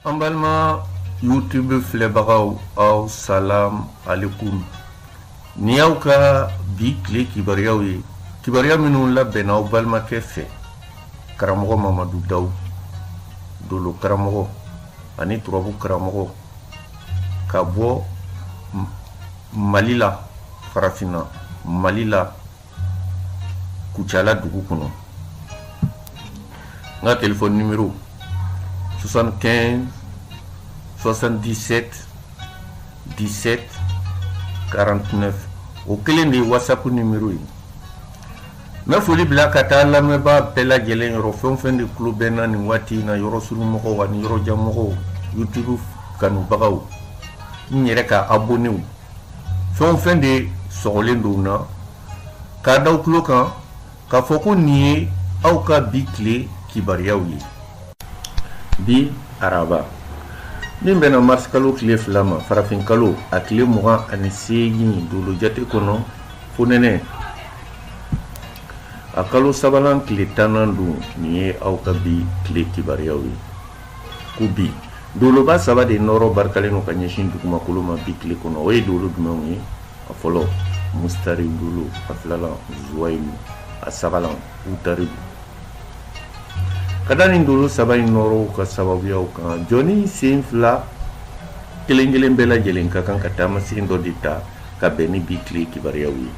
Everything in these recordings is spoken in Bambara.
an balima youtube filɛbagaw aw salam alekum nin y'aw ka bi tile kibaruyaw ye kibaruya minnu labɛnna aw balimakɛ fɛ karamɔgɔ mamadu dawu dolo karamɔgɔ ani turabu karamɔgɔ ka bɔ mali la farafinna mali la kucala dugu kɔnɔ n ka telefɔni nimero 75 77 17 49 o kelen de ye whatsapp nimero ye n bɛ foli bila ka taa lamɛnbaa bɛɛ lajɛlen yɔrɔ fɛn o fɛn de tulo bɛ n na nin waati in na yɔrɔ surunmɔgɔw ani yɔrɔjanmɔgɔw youtube kanubagaw n yɛrɛ ka abonew fɛn o fɛn de sɔgɔlen don n na k'a d'aw tulo kan k'a fɔ ko nin ye aw ka bi tile kibaruyaw ye bi araba min bɛnna marisikalo tile fila ma farafinkalo a tile mugan ani seegin dolojate kɔnɔ fonɛnɛ a kalo sabanan tile tannan don nin ye aw ka bi tile kibaruyaw ye ko bi doloba saba de nɔɔrɔ barikalen don ka ɲɛsin dugumakolo ma bi tile kɔnɔ o ye dolo jumɛnw ye a fɔlɔ mustari dolo a filalan zuwayilu a sabalan utaridu ka da nin dolo saba in nɔɔrɔw ka sababuyaw kan jɔnnin senfila kelen kelen bɛɛ lajɛlen ka kan ka taamasen dɔ de ta ka bɛn ni bi tile kibaruyaw ye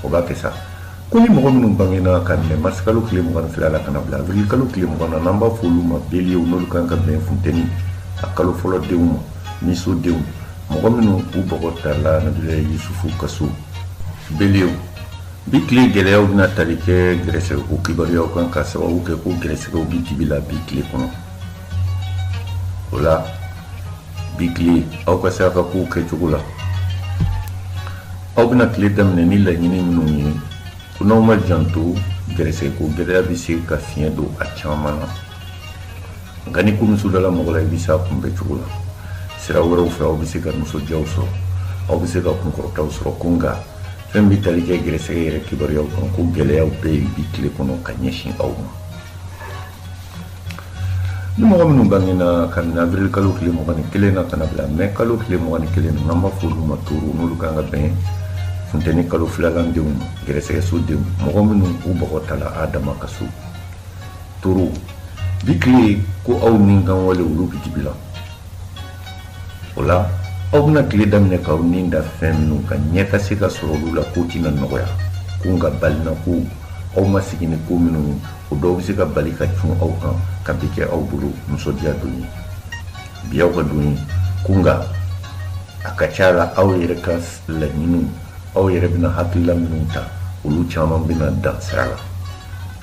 o b'a kɛ sa ko ni mɔgɔ minnu bangena k'a minɛ marsikalo tile mugan ni fila la ka na bila avril-kalo tile mugan na n'an b'a f'olu ma beliyew n'olu kan ka bɛn funteni a kalo fɔlɔ denw ma niso denw mɔgɔ minnu u bɔgɔ tala nabila yusufu ka so beliyew bi tile gɛlɛyaw bɛna tali kɛ gɛrɛsɛgɛko kibaruyaw kan ka sababu kɛ ko gɛrɛsɛgɛw bi dibi la bi tile kɔnɔ o la bi tile aw ka saraka kow kɛcogo la aw bɛna tile daminɛ ni laɲini minnu ye ko n'aw ma janto gɛrɛsɛgɛko gɛlɛya bɛ se ka fiɲɛ don a caman na nka ni ko muso dala mɔgɔ la i bɛ se a kunbɛn cogo la sira wɛrɛw fɛ aw bɛ se ka nisɔndiyaw sɔrɔ aw bɛ se ka kunkɔrɔtaw sɔrɔ ko nka fɛn bɛ tali kɛ gɛrɛsɛgɛ yɛrɛ kibaruyaw kan ko gɛlɛyaw bɛ yen bi tile kɔnɔ ka ɲɛsin aw ma ni mɔgɔ minnu bangena k'a minɛ abirili kalo tile mugan ni kelen na ka na bila mɛ kalo tile mugan ni kelen na n'an b'a f'olu ma toro n'olu kan ka bɛn funteni kalo filalan denw ma gɛrɛsɛgɛso denw mɔgɔ minnu u bɔgɔ tala adama ka so toro bi tile ko aw ni kan wale olu bi dibi la o la aw bɛna tile daminɛ k'aw ni da fɛn minnu kan ɲɛ ka se ka sɔrɔ olu la k'o tɛna nɔgɔya ko nka balina ko aw ma sigi ni ko minnu o dɔw bɛ se ka bali ka cun aw kan ka bi kɛ aw bolo nisɔndiya don ye bi aw ka don ye ko nka a ka ca la aw yɛrɛ ka laɲiniw aw yɛrɛ bɛna hakilila minnu ta olu caman bɛna dan sira la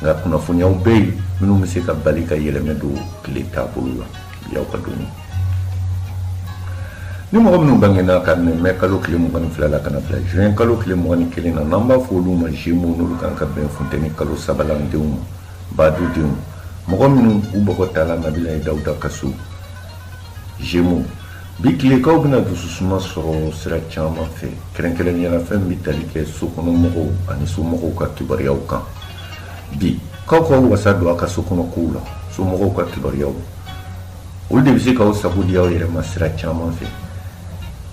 nka kunnafoniyaw bɛ yen minnu bɛ se ka bali ka yɛlɛmɛ don tile taabolo la Y'aw ka don ni mɔgɔ minnu bangena kabini mɛ kalo tile mugan ni fila la ka bila juin kalo tile mugan ni kelen na n'an b'a fɔ olu ma zemo n'olu kan ka bɛn funteni kalo sabanan denw ma badudenw mɔgɔ minnu u bɔgɔ tala nabilayi dawuda ka so zemo bi tile k'aw bɛna dususuma sɔrɔ sira caman fɛ kɛrɛnkɛrɛnnenya la fɛn bɛ tali kɛ so kɔnɔmɔgɔw ani somɔgɔw ka kibaruyaw kan bi k'aw k'aw wasa don aw ka so kɔnɔ kow la somɔgɔw ka kibaruyaw olu de bɛ se k'aw sago di aw yɛrɛ ma sira caman fɛ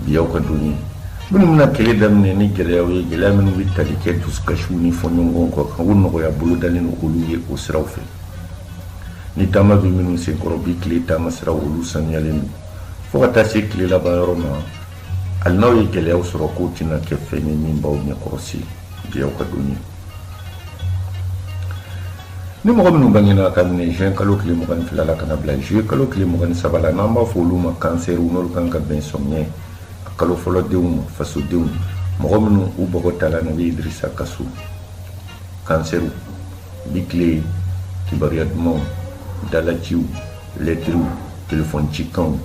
bi aw ka don ye minnu bɛna tile daminɛ ni gɛlɛyaw ye gɛlɛya minnu bɛ tali kɛ dusukasiw ni fɔɲɔgɔnkɔ kow kan o nɔgɔya bolo dalen don olu ye o siraw fɛ ni taama bɛ minnu senkɔrɔ bi tile taama siraw olu sanuyalen don fo ka taa se tile laban yɔrɔ ma hali n'aw ye gɛlɛyaw sɔrɔ k'o tɛna kɛ fɛn ye min b'aw ɲɛkɔrɔ se bi aw ka don ye ni mɔgɔ minnu bangena kabini juin kalo tile mugan ni fila la ka na bila juillet kalo tile mugan ni saba la n'an b'a fɔ olu ma kansɛriw n'olu kan ka bɛn sɔmiɲɛ kalo fɔlɔ denw ma fasodenw mɔgɔ minnu u bɔgɔ tala nabi idirisa ka so kansɛriw bi tile kibaruya dumanw dalaciw lɛtiriw telefɔn cikanw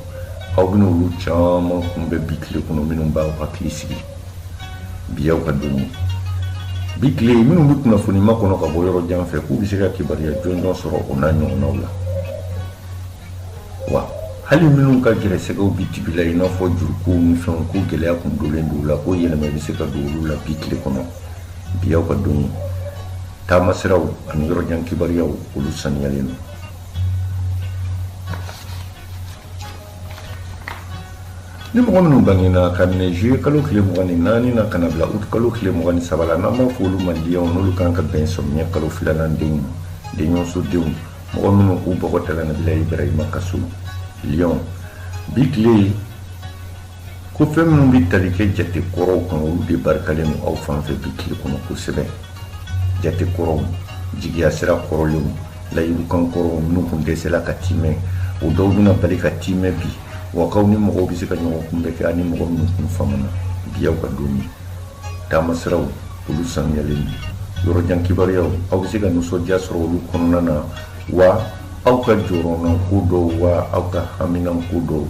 aw bɛna olu caman kunbɛn bi tile kɔnɔ minnu b'aw hakili sigi bi y'aw ka don bi tile minnu bɛ kunnafoni makɔnɔ ka bɔ yɔrɔ jan fɛ k'u bɛ se ka kibaruya jɔnjɔn sɔrɔ o n'a ɲɔgɔnnaw la wa hali minnu ka gɛrɛsɛgɛw bɛ dibi la i n'a fɔ jurukow ni fɛnw ko gɛlɛya kun donlen don la ko yɛlɛma bɛ se ka don olu la bi tile kɔnɔ bi y'aw ka don taamasiraw ani yɔrɔ jan kibaruyaw olu saniyalen don ni mɔgɔ minnu bangena ka minɛ juillet kalo tile mugan ni naani na ka na bila août kalo tile mugan ni saba la n'an b'a fɔ olu ma liyɔn n'olu kan ka bɛn sɔmiɲɛ kalo filanan denw ma denso denw mɔgɔ minnu u bɔgɔ tala nabila ibrahima ka so liyɔn bi tile ko fɛn minnu bɛ tali kɛ jate kɔrɔw kan olu de barikalen don aw fan fɛ bi tile kɔnɔ kosɛbɛ jate kɔrɔw jigiya sira kɔrɔlenw layidukan kɔrɔw minnu kun dɛsɛla ka tiimɛ o dɔw bɛna bali ka tiimɛ bi wa k'aw ni mɔgɔw bɛ se ka ɲɔgɔn kunbɛn kɛ ani mɔgɔ minnu kun famana bi y'aw ka don ye taama siraw olu sanuyalen don yɔrɔ jan kibaruyaw aw bɛ se ka nisɔndiya sɔrɔ olu kɔnɔna na wa aw ka jɔrɔnanko dɔw wa aw ka haminanko dɔw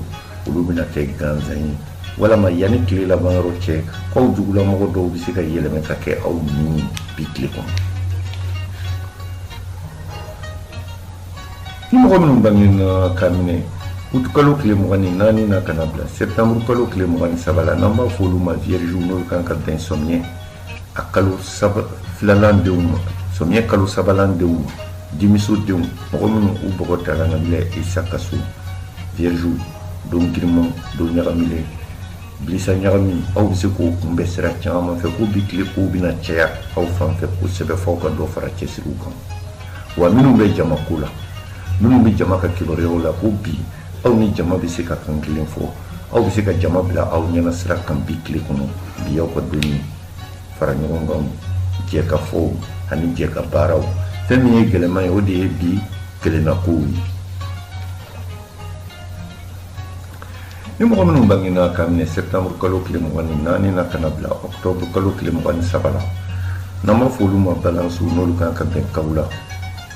olu bɛna kɛ gansan ye walama yanni tile laban yɔrɔ cɛ aw jugulamɔgɔ dɔw bɛ se ka yɛlɛmɛ ka kɛ aw ni bi tile kɔnɔ ni mɔgɔ minnu bangena ka minɛ utu kalo tile mugan ni naani na ka na bila sɛptanburu kalo tile mugan ni saba la n'an b'a fɔ olu ma viergew n'olu kan ka bɛn samiɲɛ a kalo filanan denw ma samiyɛ kalo sabanan denw ma dimiso denw mɔgɔ minnu u bɔgɔ tala nabila isa ka so vierge don giriman don ɲagamilen bilisa ɲagami aw bɛ se k'o kunbɛn sira caman fɛ ko bi tile kow bɛna caya aw fan fɛ kosɛbɛ f'aw ka dɔ fara cɛsiriw kan wa minnu bɛ jama ko la minnu bɛ jama ka kibaruyaw la ko bi aw ni jama bɛ se ka kan kelen fɔ aw bɛ se ka jama bila aw ɲɛna sira kan bi tile kɔnɔ bi aw ka don ye fara ɲɔgɔn kan jɛ ka fɔw ani jɛ ka baaraw fɛn min ye gɛlɛman ye o de ye bi kelennakow ye ni mɔgɔ minnu bangena ka minɛ sɛptanburu kalo tile mugan ni naani na ka na bila ɔktɔburu kalo tile mugan ni saba la n'an b'a fɔ olu ma balansiw n'olu kan ka bɛn kawula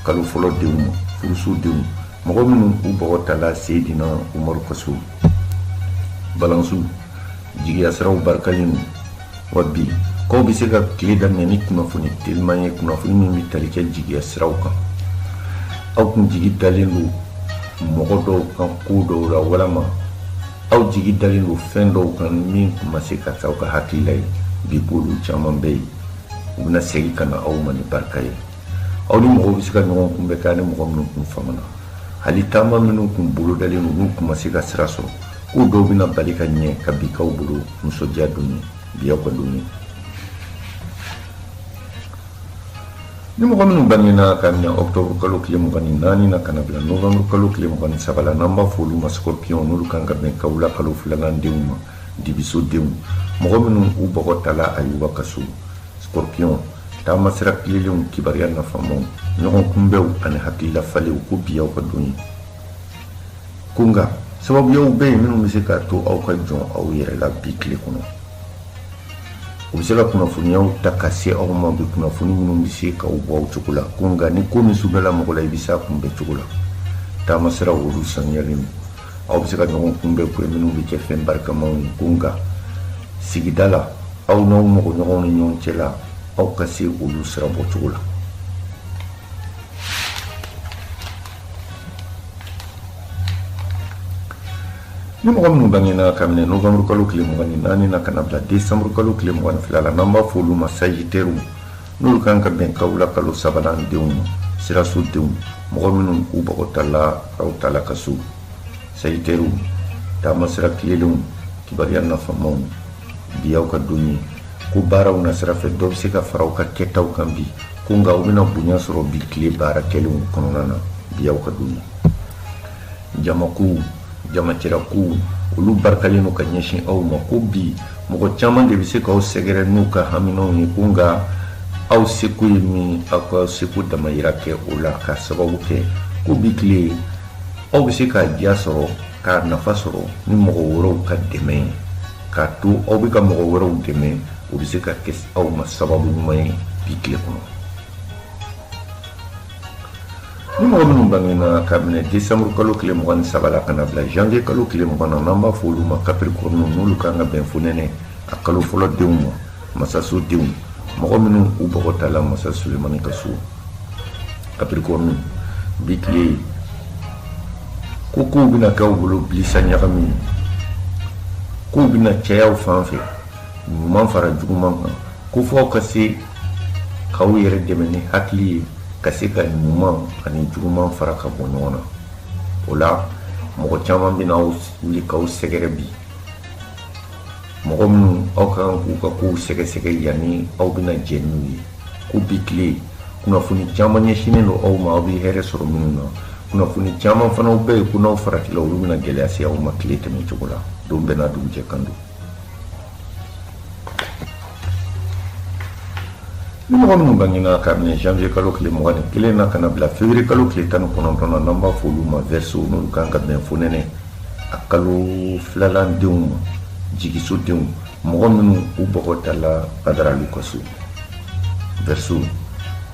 kalo fɔlɔ denw ma furuso denw mɔgɔ minnu u bɔgɔ tala seydina umaru ka so balansi jigiya siraw barikalen don wa bi k'aw bɛ se ka tile daminɛ ni kunnafoni teliman ye kunnafoni min bɛ tali kɛ jigiya siraw kan aw tun jigi dalen don mɔgɔ dɔw kan ko dɔw la walama aw jigi dalen don fɛn dɔw kan min tun ma se ka taa aw ka hakilila ye bi k'olu caman bɛ yen u bɛna segin ka na aw ma ni barika ye aw ni mɔgɔw bɛ se ka ɲɔgɔn kunbɛ kɛ ani mɔgɔ minnu kun famana hali taama minnu kun bolodalen don n'u kun ma se ka sira sɔrɔ k'u dɔw bɛna bali ka ɲɛ ka bi k'aw bolo nisɔndiya don ye bi aw ka don ye ni mɔgɔ minnu bangena ka minɛ octobre kalo tile mugan ni naani na ka na bila novembre kalo tile mugan ni saba la n'an b'a fɔ olu ma scorpion n'olu kan ka bɛn kawula kalo filanan denw ma dibiso denw mɔgɔ minnu u bɔgɔ tala ayuba ka so Scorpion taamasira tilennenw kibaruya nafamaw ɲɔgɔn kunbɛw ani hakilila falenw ko bi aw ka don ye ko nka sababuyaw bɛ yen minnu bɛ se k'a to aw ka jɔn aw yɛrɛ la bi tile kɔnɔ u bɛ se ka kunnafoniyaw ta ka se aw ma bi kunnafoni minnu bɛ se k'aw bɔ aw cogo la ko nka ni ko min sudala mɔgɔ la i bɛ se a kunbɛn cogo la taamasiraw olu saniyalen don aw bɛ se ka ɲɔgɔn kunbɛ kɛ minnu bɛ cɛ fɛn barikamaw kun kan sigida la aw n'aw mɔgɔ ɲɔgɔn ni ɲɔgɔn cɛ la aw ka se olu sira bɔ cogo la ni mɔgɔ minnu bangena ka minɛ novembre kalo tile mugan ni naani na ka na bila décembre kalo tile mugan ni fila la n'an b'a fɔ olu ma sagitɛriw n'olu kan ka bɛn kawula kalo sabanan denw ma siraso denw mɔgɔ minnu u bɔgɔ tala aw tala ka so sagittaires taama sira tilelenw kibaruya nafamaw bi aw ka don ye ko baaraw nasira fɛ dɔ bɛ se ka fara aw ka kɛtaw kan bi ko nka aw bɛna bonya sɔrɔ bi tile baara kɛlenw kɔnɔna na bi aw ka don ye jamakow jamacɛra kow olu barikalen don ka ɲɛsin aw ma ko bi mɔgɔ caman de bɛ se k'aw sɛgɛrɛ n'u ka haminanw ye ko nka aw seko ye min aw k'aw seko damayira kɛ o la ka sababu kɛ ko bi tile aw bɛ se k'a diya sɔrɔ k'a nafa sɔrɔ ni mɔgɔ wɛrɛw ka dɛmɛ ye k'a to aw bɛ ka mɔgɔ wɛrɛw dɛmɛ o bɛ se ka kɛ aw ma sababu ɲuman ye bi tile kɔnɔ ni mɔgɔ minnu bangena ka minɛ décembre kalo tile mugan ni saba la ka na bila janvier kalo tile mugan na n'an b'a fɔ olu ma kapirikɔrɔnu n'olu kan ka bɛn fonɛnɛ a kalo fɔlɔ denw ma masaso denw mɔgɔ minnu u bɔgɔ tala masa sulemani ka so kapirikɔrɔnu bi tile ko kow bɛna k'aw bolo bilisa ɲagami kow bɛna caya aw fan fɛ ɲuman fara juguman kan ko f'aw ka se k'aw yɛrɛ dɛmɛ ni hakili ye ka se ka ɲuman ani juguman fara ka bɔ ɲɔgɔn na o la mɔgɔ caman bɛna wuli k'aw sɛgɛrɛ bi mɔgɔ minnu aw ka kan k'u ka kow sɛgɛsɛgɛ yanni aw bɛna jɛ n'u ye ko bi tile kunnafoni caman ɲɛsinnen don aw ma aw bɛ hɛrɛ sɔrɔ minnu na kunnafoni caman fana bɛ yen ko n'aw faratila olu bɛna gɛlɛya se aw ma tile tɛmɛ cogo la don bɛɛ n'a dugujɛ kan don Ni mɔgɔ minnu bangina ka minɛ janvier kalo tile mugan ni kelen na ka na bila fevrier kalo tile tan ni kɔnɔntɔn na n'an b'a fɔ olu ma verseaux n'olu kan ka bɛn fonɛnɛ a kalo filanan denw ma jigiso denw mɔgɔ minnu u bɔgɔ tala Badara Alu ka so verseaux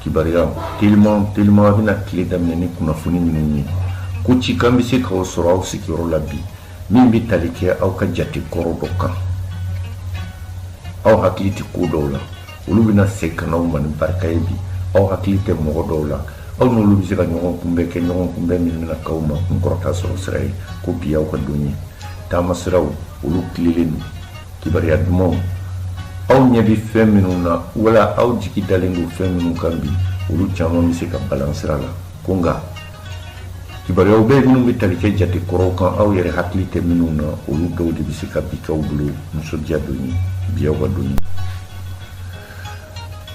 kibaruya teliman teliman a bɛna tile daminɛ ni kunnafoni minnu ye ko cikan bɛ se k'aw sɔrɔ aw sigiyɔrɔ la bi min bɛ tali kɛ aw ka jate kɔrɔ dɔ kan aw hakili tɛ ko dɔw la olu bɛna segin ka n'aw ma ni barika ye bi aw hakili tɛ mɔgɔ dɔw la aw n'olu bɛ se ka ɲɔgɔn kunbɛn kɛ ɲɔgɔn kunbɛn min bɛna k'aw ma kun kɔrɔta sɔrɔ sira ye ko bi aw ka don ye taama siraw olu tilelen don kibaruya dumanw aw ɲɛ bɛ fɛn minnu na wala aw jigi dalen don fɛn minnu kan bi olu caman bɛ se ka balan sira la ko nka kibaruyaw bɛ minnu bɛ tali kɛ jate kɔrɔw kan aw yɛrɛ hakili tɛ minnu na olu dɔw de bɛ se ka bi k'aw bolo nisɔndiya don ye bi aw ka don ye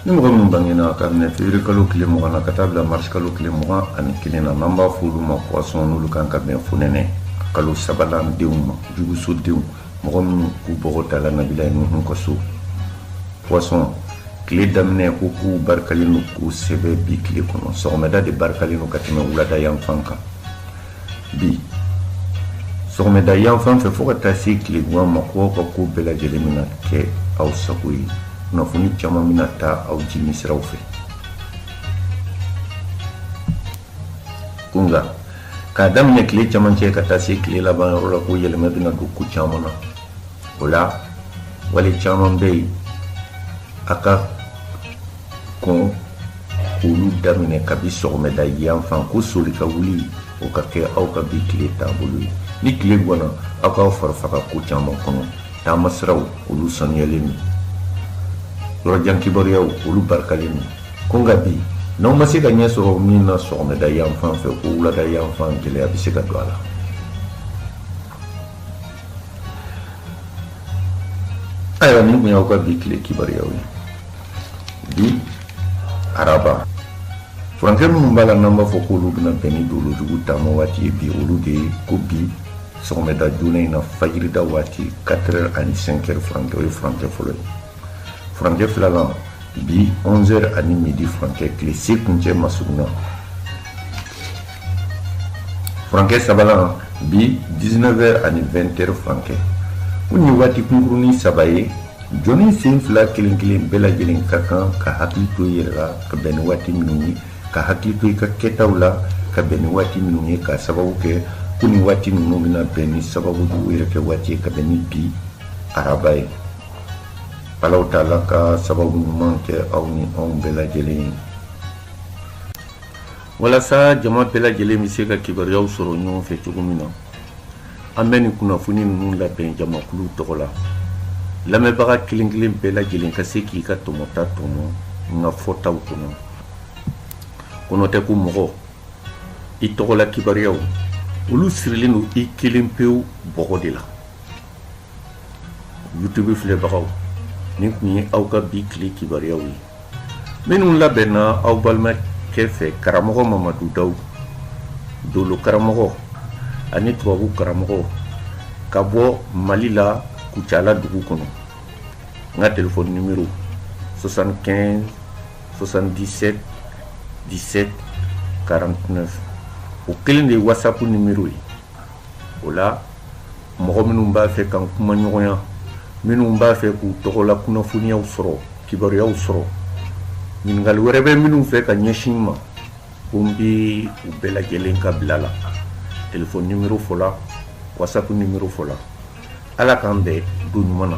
ni mɔgɔ minnu bangena ka minɛ fevrier kalo tile mugan na ka taa bila mars kalo tile mugan ani kelen na n'an b'a fɔ olu ma poisson n'olu kan ka bɛn fonɛnɛ kalo sabanan denw ma juguso denw mɔgɔ minnu k'u bɔgɔ dala nabila ye nuhun ka so poisson tile daminɛ ko k'u barikalen don kosɛbɛ bi tile kɔnɔ sɔgɔmɛda de barikalen don ka tɛmɛ wulada yanfan kan bi sɔgɔmɛda yanfan fɛ fɔɔ ka taa se tilegwan ma ko aw ka ko bɛɛ lajɛlen bɛna kɛ aw sago ye kunnafoni caman bɛna taa aw jimi siraw fɛ ko nka k'a daminɛ tile camancɛ ka taa se tile laban yɔrɔ la ko yɛlɛma bɛna don ko caman na o la wale caman bɛ yen a ka kan k'olu daminɛ kabi sɔgɔmɛda yan fan ko soli ka wuli o ka kɛ aw ka bi tile taabolo ye ni tile gwanna aw k'aw fari faga ko caman kɔnɔ taama siraw olu sanuyalen don yɔrɔjan kibaruyaw olu barikalen don ko nka bi n'aw ma se ka ɲɛ sɔrɔ min na sɔgɔmada yan fan fɛ ko wulada yan fan gɛlɛya bɛ se ka don a la ayiwa nin tun y'aw ka bi tile kibaruyaw ye bi araba furankɛ minnu b'a la n'an b'a fɔ k'olu bɛna bɛn ni dolo jugu taama waati ye bi olu de ye ko bi sɔgɔmɛda joona in na fajirida waati 4 heures ani 5 heures furankɛ o ye furankɛ fɔlɔ ye furancɛ filanan bi 11 heures ani midi furancɛ tile se kuncɛ masurunya furancɛ sabanan bi 19 heures ani 20 heures furancɛ ko nin waati kunkurunin saba ye jɔnnin sen fila kelen kelen bɛɛ lajɛlen ka kan ka hakili to i yɛrɛ la ka bɛn ni waati minnu ye ka hakili to i ka kɛtaw la ka bɛn ni waati minnu ye k'a sababu kɛ ko nin waati ninnu bɛna bɛn ni sababu jugu yɛrɛkɛ waati ye ka bɛn ni bi araba ye Ala taala ka sababu ɲuman kɛ aw ni anw bɛɛ lajɛlen ye walasa jama bɛɛ lajɛlen bɛ se ka kibaruyaw sɔrɔ ɲɔgɔn fɛ cogo min na an bɛ nin kunnafoni ninnu labɛn jamakulu tɔgɔ la lamɛnbaga kelenkelen bɛɛ lajɛlen ka se k'i ka tɔmɔta tɔmɔ n ka fɔtaw kɔnɔ ko n'o tɛ ko mɔgɔ i tɔgɔla kibaruyaw olu sirilen don i kelen pewu bɔgɔ de la youtube filɛbagaw nin tun ye aw ka bi tile kibaruyaw ye minnu labɛnna aw balimakɛ fɛ karamɔgɔ mamadu daw dolo karamɔgɔ ani tubabu karamɔgɔ ka bɔ mali la kucala dugu kɔnɔ n ka telefɔni nimero 75 77 17 49 o kelen de ye whatsapp nimero ye o la mɔgɔ minnu b'a fɛ k'an kumaɲɔgɔnya minnu b'a fɛ k'u tɔgɔ la kunnafoniyaw sɔrɔ kibaruyaw sɔrɔ ɲininkali wɛrɛ bɛ minnu fɛ ka ɲɛsin n ma ko n bɛ u bɛɛ lajɛlen ka bila la telefɔni nimɔrɔ fɔ la wasapu nimɔrɔ fɔ la ala k'an bɛn don ɲuman na